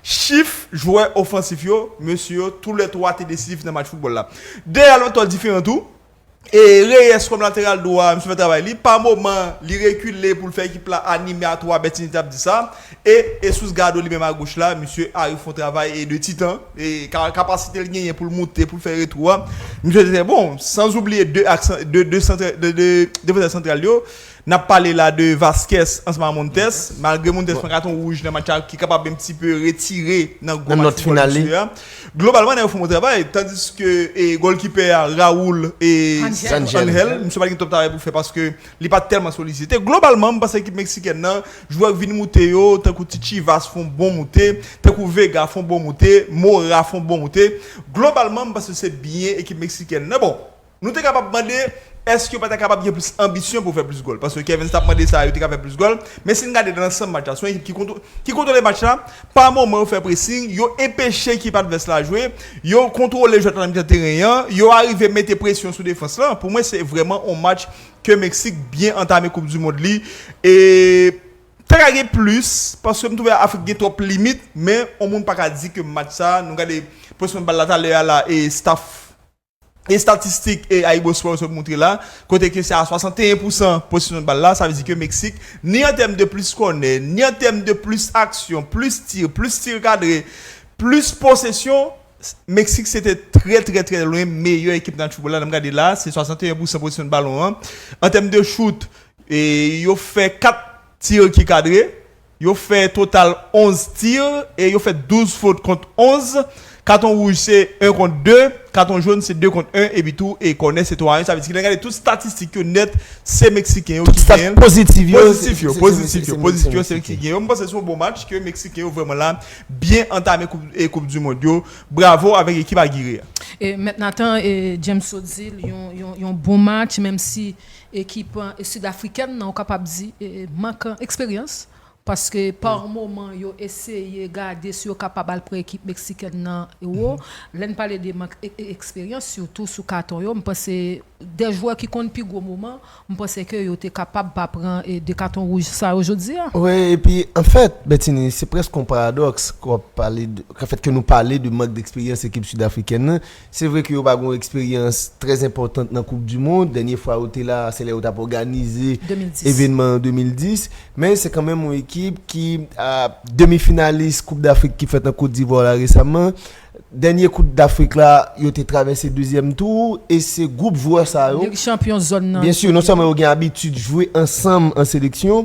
chif jwè ofansif yo, mesye yo tou lè twa te desizif nan match foutbòl la. Deyal yon tò diferan tou. E Reyes kòm lateral dwa, misye fè travay li. Pa moman, li rekile pou l fè ekip la anime a twa, Bertinie t ap di sa. E Jesús Galdo li menm agoch la, misye arive fè yon travay de titan. E kapasite l genyen pou l moute, pou l fè retou a, misye te trè bon. Sanzoubliye de ak de defansè santral yo. N ap pale la de Vazquez ansanm a Montes. Malgre Montes pran katon wouj nan match la ki kapab en pti pe retire nan gwo match foutbòl mesye a. Globalman nèg yo fon bon travay. Tandiske gòlkipè a Raul Angel, misye pa t gen twòp travay pou l fè paske li pa t tèlman solisite. Globalman m panse ekip meksikèn nan, jwè k vin moute yo tankou ti Chivas fon bon moute, tankou Vega fon bon moute, Mora fon bon moute. Globalman m panse se byen ekip meksikèn nan bon. Nou te kapab mande èske yo pa ta kapab gen plis anbisyon pou fè plis gòl, paske Kevens t ap mande sa, yo te ka fè plis gòl, men si n gade nan lansanm match la, se yon ekip ki kontwole match la, pa moman yo fè presing, yo enpeche ekip advès la jwe, yo kontwole jwèt la nan mitan teren an, yo arive mete presyon sou defans lan, pou mwen se vrèman yon match ke Meksik byen antame koup di mond li, e ta ka gen plis, paske m twouve Afrik gen twòp limit, men yon moun pa ka di ke match sa, nou gade possession bal la talè a la, e staff. Estatistik AyiboSport sot moutre la, kote ke se a 61 pousan posesyon bal la, sa vle di ke Meksik, ni an tèm de plis kònè, ni an tèm de plis aksyon, plis tir, plis tir kadre, plis posesyon, Meksik se te trè trè trè lwen meyè ekip nan foutbòl la, lè m gade la, se 61 pousan posesyon balon an, an tèm de chout, yo fè 4 tir ki kadre. Yo fè total 11 tir e yo fè 12 fot kont 11. Katon wouj se 1 kont 2, katon joun se 2 kont 1 epi tou e kònè se 3 a 1. Sa vle di ki lè n gade tout statistik yo nèt se Meksiken yo ki gen. Pozitif yo se Meksiken. Pozitif yo se Meksiken yo. M panse se yon bon match ke Meksiken yo vrèman la byen antame koup du mond yo. Bravo avèk ekip Agire a. Mèt Nathan James Sotzil yon bon match menm si. Ekip Sid Afrikèn nan ou kapab di mank eksperyans paske pa moman yo eseye gade si yo kapab al pran ekip Meksikèn nan wo. Lè n pale de mank eksperyans sitou sou katon yo m panse de jwè ki konn pi gwo moman m panse ke yo te kapab pa pran de katon wouj sa yo jodi a. Wi epi anfèt Bètini se prèske yon paradòks kòm pale de fèt ke nou pale de mank deksperyans ekip Sid Afrikèn nan. Se vre ke yo pa gen yon eksperyans trè enpòtant nan koup du mond, dènye fwa yo te la se lè yo tap òganize evenman an 2010, men se kanmenm yon ekip ki demi finalis koup dafrik ki fèt an Kot Divwa la resaman, dènye koup dafrik la yo te travèse dezyèm tou e se gwoup jwè sa yo, byensi non sèlman yo gen abitid jwe ansanm an seleksyon,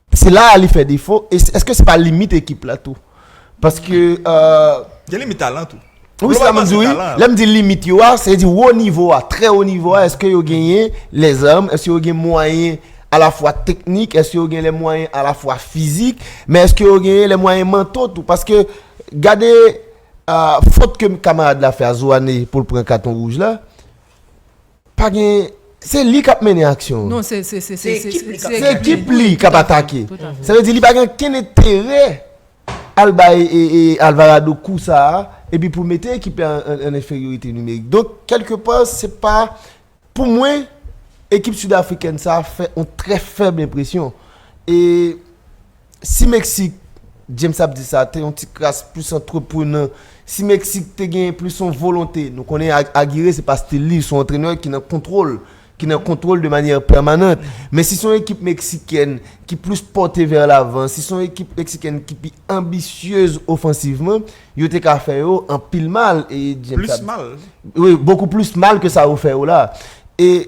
Se la a li fè defo, e eske se pa limit ekip la tou? Paske Gen limit talan tou. Wi se sa map di wi, lèm di limit yo a, se di wo nivo a, trè wo nivo a, eske yo genyen lè zam, eske yo gen mwayen alafwa teknik, eske yo gen lè mwayen alafwa fizik, men eske yo genyen lè mwayen manto tou, paske gade fot ke kamarad la fè a Zouane pou l pran katon wouj la. Pa gen, se li kap mennen aksyon an. Non, se, se, se, se, se, se, se. Se ekip li kap atake. Sa vle di li pa gen okenn enterè al bay e, e, Alvarado kou sa a, epi pou mete ekip la an, an enferyorite nimerik. Donk, kèlke pa, se pa, pou mwen, ekip Sud Afrikèn sa a fè yon trè fèb enpresyon. E. Si Meksik, James ap di sa, te yon ti kras plis antreprenan, si Meksik te genyen plis yon volonte, nou konnen Agire se pa stil li, son antrenè ki nan kontwol, ki nan kontwol de manyè pèmanant. Men si son ekip Meksikèn ki plis pòte vè lavan, si son ekip Meksikèn ki pi anbisyez ofansivman, yo te ka fè yo anpil mal. Plis mal? Wi, bokou plis mal ke sa yo fè yo la. E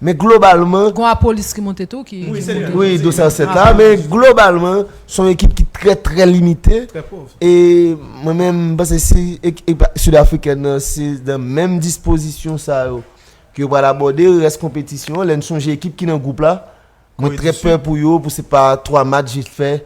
Men globalman. Gon a polis ki monte tou ki. Wi se vre. Wi dosye a 7 la men globalman son ekip ki trè trè limite. Trè pov. E mwen menm m panse si ekip sud afrikèn nan se nan menm dispozisyon sa yo ke yo pral abòde rès konpetisyon an lè n sonje ekip ki nan gwoup la mwen trè pè pou yo pou se pa 3 match jis fè.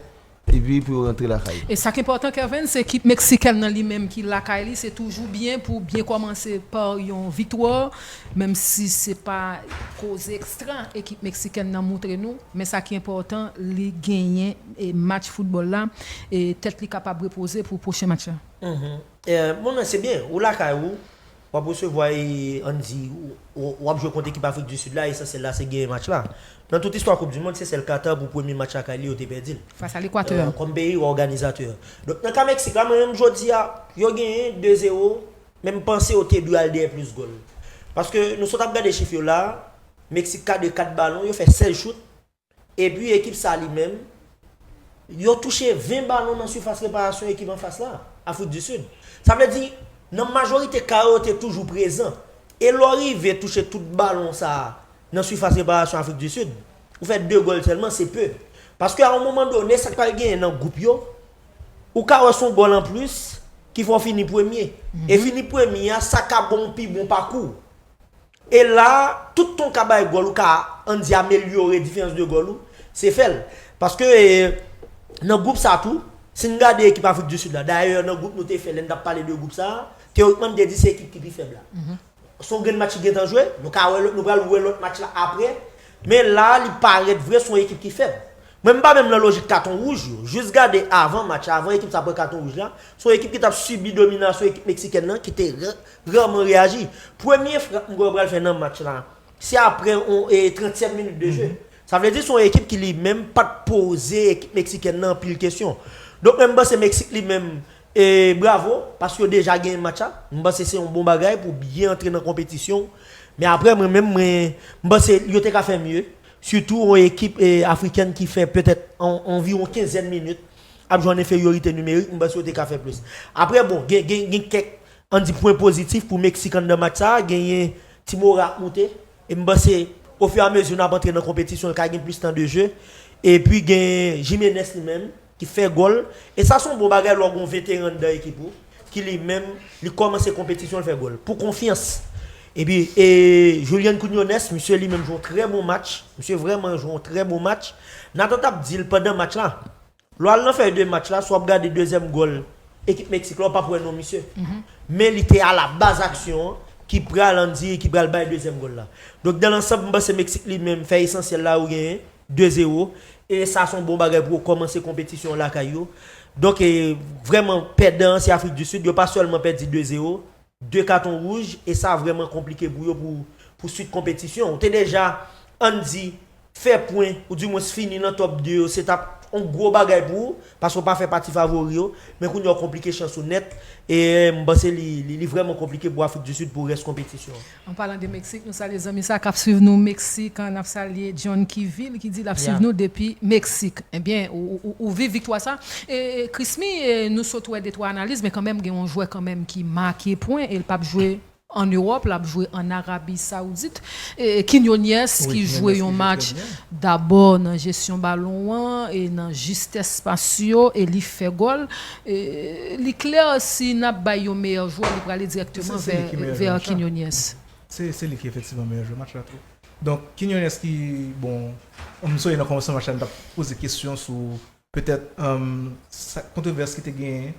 Epi pou yo rantre lakay yo. E sak enpòtan Kervens se ekip Meksikèn nan li menm ki lakay li se toujou byen pou byen kòmanse pa yon viktwa menm si se pa koze ekstra ekip Meksikèn nan moutre nou men sa ki enpòtan li genyen match foutbòl la e tèt li kapab repoze pou pwochen match la. Humm bon men se byen ou lakay ou. W ap resevwa e ann di w ap jwe kont ekip Afrik di Sid la, esansyèl la se genyen match la. Nan tout istwa koup di mond, se sèl Katar pou premye match lakay li yo te pèdi l. Fas a Lekwatè. Kòm peyi òganizatè. Donk nan ka Meksik la, mwen menm jodi a, yo genyen 2 zero, men m panse yo te dwe al dèyè plis gòl. Paske nou sot ap gade chif yo la a, Meksik kadre 4 balon, yo fè 16 chout, Epi ekip sa li menm, yo touche 20 balon nan sifas reparasyon ekip anfas la, Afrik di Sid. Sa vle di, nan majorite ka yo, yo te toujou prezan. E lè w rive touche tout balon sa a nan sifas reparasyon Afrik di Sid, ou fè 2 gòl sèlman, se pe. Paske a yon moman done, sa k pral genyen nan gwoup yo, ou ka wè se yon gòl anplis ki fè w fini premye. E fini premye a, sa ka ba w yon pi bon pakou. E la, tout ton ka bay gòl ou ka an di amelyore diferans de gòl ou, se fè l. Paske nan gwoup sa tou, si n gade ekip Afrik di Sid la, dayè nan gwoup nou te fè lè n t ap pale de gwoup sa, teyorikman n te di se ekip ki pi fèb la. Se yon grenn match ki gentan jwe, nou ka wè lòt, nou pral wè lòt match la apre, men la li parèt vre se yon ekip ki fèb. Mwen m pa menm nan lojik katon wouj yo, jis gade avan match la, avan ekip sa pran katon wouj la, se yon ekip ki t ap sibi dominasyon ekip meksikèn nan ki te Pran mwen reyaji. Premye frap m kwè yo pral fè nan match la, se aprè yon e 30 tièm minit de jeu. Sa vle di se yon ekip ki li menm pa t poze ekip meksikèn nan anpil kesyon. Donk men m panse Meksik li menm e bravo paske yo deja genyen match la. M panse se yon bon bagay pou w byen antre nan konpetisyon w. Men aprè mwen menm mwen m panse yo te ka fè mye. Sitou yon ekip e afrikèn ki fè petèt an anviwon kenzèn minit ap jwe an enferyorite nimerik m panse yo te ka fè plis. Aprè bon gen gen gen kèk An di pwen pozitif pou Meksik anndan match sa a genyen ti moral ap moute e m panse ofiramezi n ap antre nan konpetisyon l ka gen plis tan de je epi gen Jimenez li menm ki fè gòl e sa se yon bon bagay lè w gen yon veteran anndan ekip ou ki li menm li kòmanse konpetisyon l fè gòl pou konfyans epi e Julian Quiñones misye li menm jwe yon trè bon match misye vrèman jwe yon trè bon match Nathan t ap di l pandan match la. Lè w al nan fèy de match la, si w ap gade dezyèm gòl ekip Meksik la, w pap wè non misye. Men li te alabaz aksyon an ki pral andire, ki pral bay dezyèm gòl la. Donk dan lansanb, m panse Meksik li menm fè esansyèl la yo genyen 2 zero. E sa se yon bon bagay pou yo kòmanse konpetisyon an lakay yo. Donk vrèman pèdan an se Afrik di Sid. Yo pa sèlman pèdi 2 zero. 2 katon wouj e sa vrèman konplike pou yo pou pou swit konpetisyon. Ou te deja, ann di, fè pwen ou di mwens fini nan top 2 yo se t ap on gwo bagay pou ou paske ou pa fè pati favori yo men kounye a ou konplike chans ou nèt e m panse li li vrèman konplike pou Afrik di Sid pou rès konpetisyon an. An palan de Meksik, nou salye zanmi sa k ap swiv nou Meksik, n ap salye John Kivil ki di l ap swiv nou depi Meksik. Ebyen ou viv viktwa sa, Krismi nou sot wè detwa analiz men kanmenm gen yon jwè kanmenm ki make pwen el pap jwe an Ewòp lap jwe an Arabi Saoudit Quiñones ki jwe yon match dabò nan jesyon balon an e nan jistès pas yo e li fè gòl li klè si nap bay yon meyè jwè li prale dirèkteman vè Quiñones. Se li ki efektivman meyè jwè match la tou donk Quiñones ki bon m sonje nan kòmansman match la nou tap poze kesyon sou petèt sa kontwovès ki te genyen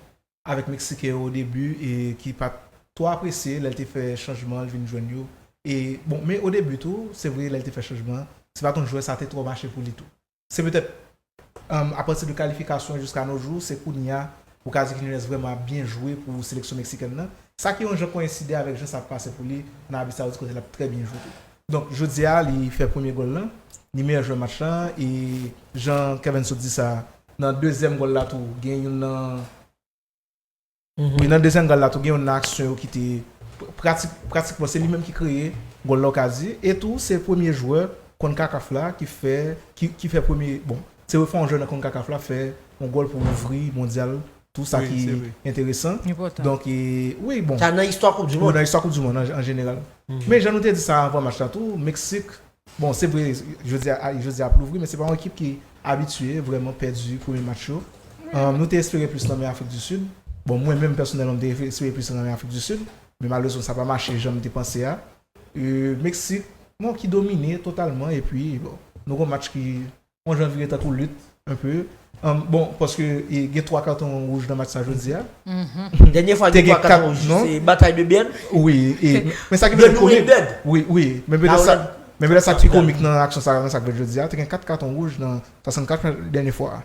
avèk meksiken yo o debi e ki pat twò apresye lè l te fè chanjman l vin jwenn yo e bon men o debi tou se vre lè l te fè chanjman an se pa kon jwè sa te twò mache pou li tou se petèt apati de kalifikasyon jiska no jou se kounye a ou ka di ki Nunez vrèman ap byen jwe pou seleksyon meksikèn nan sa ki yon jan koyenside avèk jan sa ap pase pou li nan Arabi Sawoudit kote l ap trè byen jwe tou. Donk jodi a li fè premye gòl lan, li meyè jwè match lan e jan Kevens sot di sa, nan dezyèm gòl la tou gen youn nan wi nan dezyèm gòl la tou gen youn nan aksyon yo ki te pratik pratikman se li menm ki kreye gòl la ou ka di e tou se premye jwè Concacaf la ki fè ki fè premye bon se fè yon jwè nan Concacaf la fè yon gòl pou ouvri mondyal Tou sa ki enteresan. Donk e wi bon. Sa nan istwa koup di mond. Nan istwa koup di mond an jeneral. Men jan nou te di sa avan match la tou, Meksik, bon se vre jodi a jodi a ap louvri men se pa yon ekip ki abitye vrèman pèdi premye match yo. Nou te espere plis nan men Afrik di Sid. Bon mwen menm pèsonèlman m te espere plis nan men Afrik di Sid. Men malerezman sa pa mache jan m te panse a. Meksik bon ki domine totalman epi bon nou gen yon match ki Bon jan vire tankou lit un peu bon paske gen 3 katon wouj nan match sa jodia. Dènye fwa gen 3 katon wouj se batay de bèd. Wi e men sa ki pi komik wi wi men petèt sa men petèt sa ki pi komik nan aksyon sa nan sa ki fèt jodia te gen 4 katon wouj nan 64 dènye fwa a.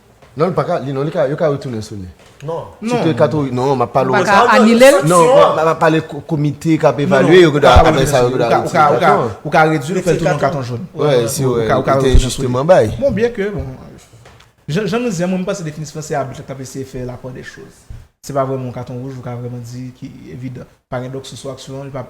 Non li paka li non li ka yo ka retounen sou li. Non. Si te kato non map pale. Ou paka anile l. Non map pale komite kap evalye yo kap fè sa yo. Ou ka redwi l fè l tounen an katon joun. Wè si ou te enjisteman bay. Bon byen ke bon jan nou di an mwen m panse definisyon an se abit kap eseye fè la pardè choz. Se pa vreman yon katon wouj ou ka vreman di ki evidan. Pa gen dòk sou sou aksyon an li pap.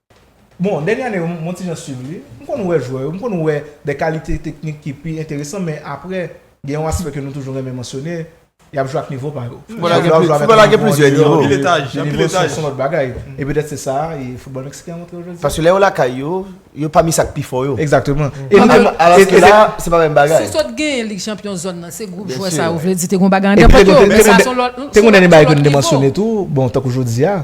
Bon, dènye ane yo, m on ti jan swiv li. M konn wè jwè yo, m konn wè de kalite teknik ki pi enteresan, men apre, gen yon aspè ke nou toujou renmen mansyone, y ap jwe ak nivo pa yo. Foutbòl la gen plizyè nivo. Anpil etaj. Anpil etaj. Son lòt bagay. E petèt se sa, e foutbòl meksiken an montre yo jodi. Paske lè yo lakay yo, yo pami sa k pi fò yo. Egzakteman. Alòske la, se pa menm bagay. Si sot genyen Lig Chanpyon zòn nan, se gwoup jwè sa yo, vle di te gen yon bagay anndan tèt yo. Te gen yon dènye bagay ke nou te mansyone tou, bon, tankou jodi a,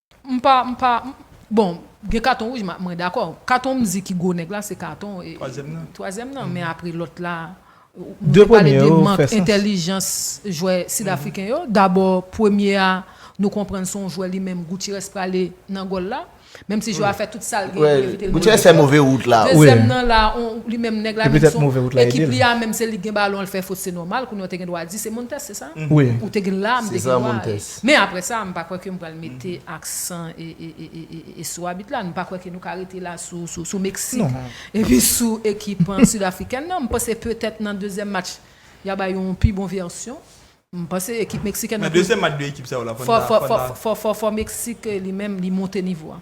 M pa, m pa, m, bon, gen katon wouj m, mwen dakò. Katon m di ki gwo nèg la se katon e, twazyèm nan, men apre lòt la, nou te pale de mank entèlijans jwè Sid Afriken yo, dabò premye a nou konprann se yon jwè li menm Goutirès prale nan gòl la, menm si jwè a fè tout sa l gen pou evite l Goutirès fè move wout la, wi. Dezyèm nan la, on, li menm nèg la menm se yon, ekip li a menm se li k gen balon l fè fot se nòmal, kounye a ou te gen dwa di se Montes se sa? Wi. Ou te gen la, m te gen dwa, Men apre sa, m pa kwè ke m pral mete aksan sou abit la. M pa kwè ke nou ka rete la sou Meksik epi sou ekip Sidafrikèn nan. M panse petèt nan dezyèm match ya bay yon pi bon vèsyon. M panse ekip Meksikèn nan pou. Nan dezyèm match 2 ekip sa yo la, fò Meksik li menm li monte nivo a.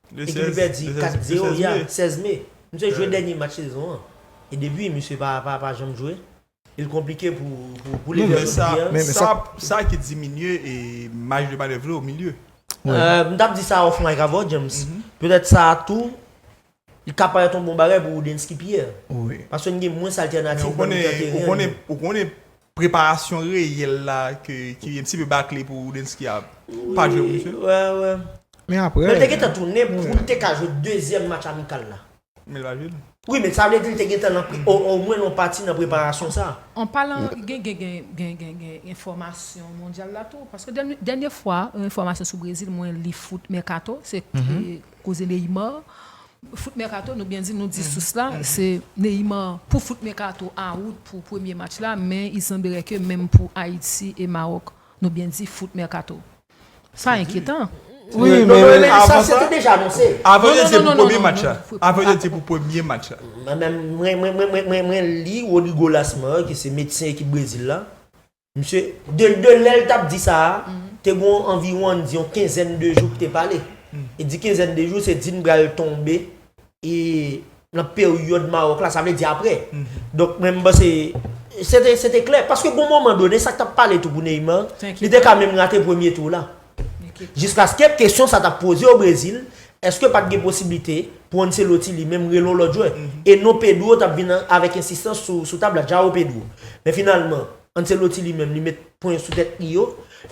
Epi li pèdi 4 0 ya 16 me. Misye jwe dènye match sezon an. E depi misye pa janm jwe. E l konplike pou li vin sou teren. Men sa ki diminye maj de manèv li o milye. M t ap di sa off mic avè w James. Petèt sa a tou li ka parèt yon bon bagay pou Woodensky Pierre. Paske n gen mwens altènatif nan mitan teren. Ou konnen Preparasyon reyèl la ke ki un ti peu bakle pou Roudensky a pa jwe pou misye. Wè wè. Men aprè. Lè te gentan tounen poul te ka jwe dezyèm match amikal la. Men li pa jwe l. Wi men sa vle di li te gentan nan omwen yon pati nan preparasyon sa. An palan gen gen gen gen gen enfòmasyon mondyal la tou paske dènye fwa yon enfòmasyon sou Brezil mwen li foot mercato se koze Neymar Foot Mercato nou byen di nou di sous la se Neymar pou Foot Mercato a wout pou premye match la men il semblerait ke menm pou Ayiti e Maròk nou byen di Foot Mercato sa enkyetan. Wi men sa se te deja anonse. Avan yo di se pou premye match la. Avan yo di se pou premye match la. Mwen li Rodrigo Lasmar ki se medsen ekip Brezil la. Msye, de lè l t ap di sa a, te gon anviwon ann di yon kenzèn de jou k te pale. E di kenzèn de jou, se di n pral tonbe nan peryòd Mawòk la, sa vle di apre. Donk mwen m panse, se te klè. Paske gon moman done, sa k t ap pale tou pou Neymar, li te ka menm rate premye tou la. Jiskaske kesyon sa t ap poze o Brezil, èske pa t gen posiblite pou Ancelotti li menm rele yon lòt jwè, e non Pedro t ap vin avèk ensistans sou tab la, Joao Pedro. Men finalman, Ancelotti li menm li met pwen sou tèt li yo,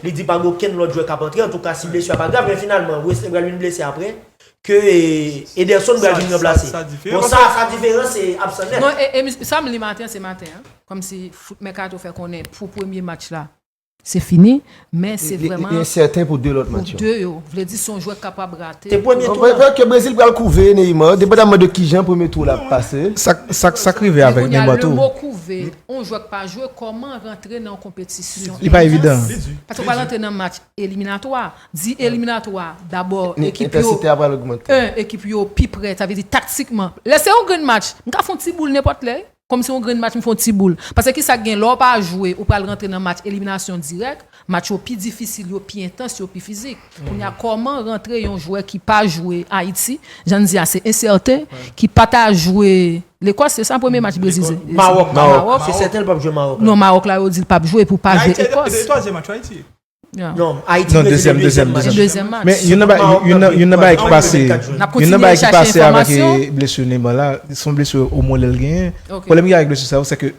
li di pa gen okenn lòt jwè k ap antre, antouka si blesi a pa grav, men finalman Wesley pral vin blese aprè, ke Ederson pral vin ranplase. Bon sa, sa diferan se absan nèt. Non, e sa m li maten, se maten an, kòmsi foot Mercato fè konnen pou premye match la, Se fini, men se vrèman. Li ensèten pou 2 lòt match yo. Pou 2 yo. Vle di se yon jwè k kapab rate. Se premye tou la. Ok, Brezil pral kouve Neymar, depandaman de kijan premye tou la ap pase. Sa k rive avèk Neymar tou. Men kounye a, lemo kouve, yon jwè k pa jwe, kòman rantre nan yon konpetisyon. Li pa evidan. Li di. Paske ou pral rantre nan match eliminatwa. Di eliminatwa, dabò ekip yo. Entensite a pral ogmante. 1, ekip yo pi prè, sa vle di taktikman. Lè se yon grenn match, m ka fè yon ti boul nenpòt lè. Kòm se yon grenn match m fè yon ti boul. Pase kisa k gen lè w pa jwe ou pral rantre nan match eliminasyon dirèk, match yo pi difisil, yo pi entans, yo pi fizik. Kounye a kòman rantre yon jwè ki pa jwe Ayiti, jan n di a se ensèten, ki pa ta jwe Lekòs se sa premye match Brezil se? Mawòk. Mawòk. Se sèten l pap jwe Mawòk la. Non Mawòk la yo di l pap jwe pou l pa jwe Ekòs. Ayiti a jwe 2 e twazyèm match yo Ayiti. Non, Ayiti mwen te dezyèm match. Se dezyèm match. Men, yon nan bagay ki pase, yon nan bagay ki pase avèk blesur Neymar la, son blesur o molè l genyen. Pwoblèm ki gen avèk blesur sa yo, se ke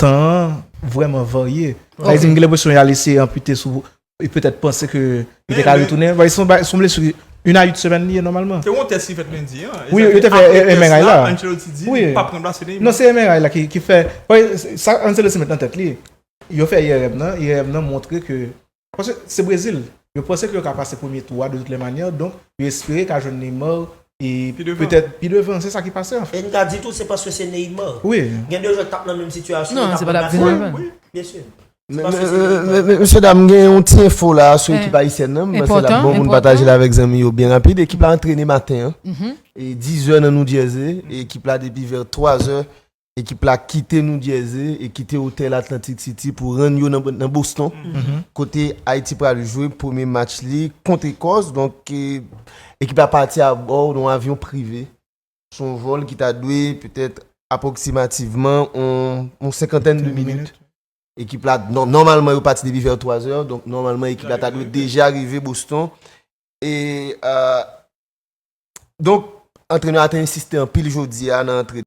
tan an vrèman varye. Sa vle di m gen lenpresyon y al eseye anpite sou, e petèt panse ke li te ka retounen. Ou vwaye, son blesur 1 a 8 semèn li ye nòmalman. Te gen yon tès ki fèt lendi an. Wi, yo te fè MRI la. Ancelotti di li pa p ranplase Neymar. Non, se MRI la ki fè. Ou vwaye, sa Ancelotti met nan tèt li, Yo fè IRM nan, IRM nan montre ke, paske se Brezil, yo panse ke yo ka pase premye tou a de tout lè manyè, donk yo espere ka jwenn Neymar e petèt pi devan, se sa ki pase anfen. E n ka di tou se paske se Neymar. Wi. Gen de jwè ki t ap nan menm sitiyasyon yo t ap ranplase l. Non, se pa t ap vin anvan. Wi, byen si. Se paske se Neymar. Men, mesye dam, gen yon ti enfo la sou ekip ayisyèn nan, m panse l ap bon pou n pataje l avèk zanmi yo byen rapid. Ekip la antrene maten an, e dizè nan Noujèze, e ekip la depi vè twazè Ekip la kite New Jersey e kite otèl Atlantic City pou rann yo nan Boston kote Ayiti pral jwe premye match li kont Ekòs. Donk ekip la pati abò yon avyon prive. Se yon vòl ki ta dwe petèt apwoksimativman yon senkantèn de minit. Ekip la, nòmalman yo pati depi vè 3 zè, donk nòmalman ekip la ta dwe deja rive Boston. E donk antrenè a te ensiste anpil jodi a nan antrenman.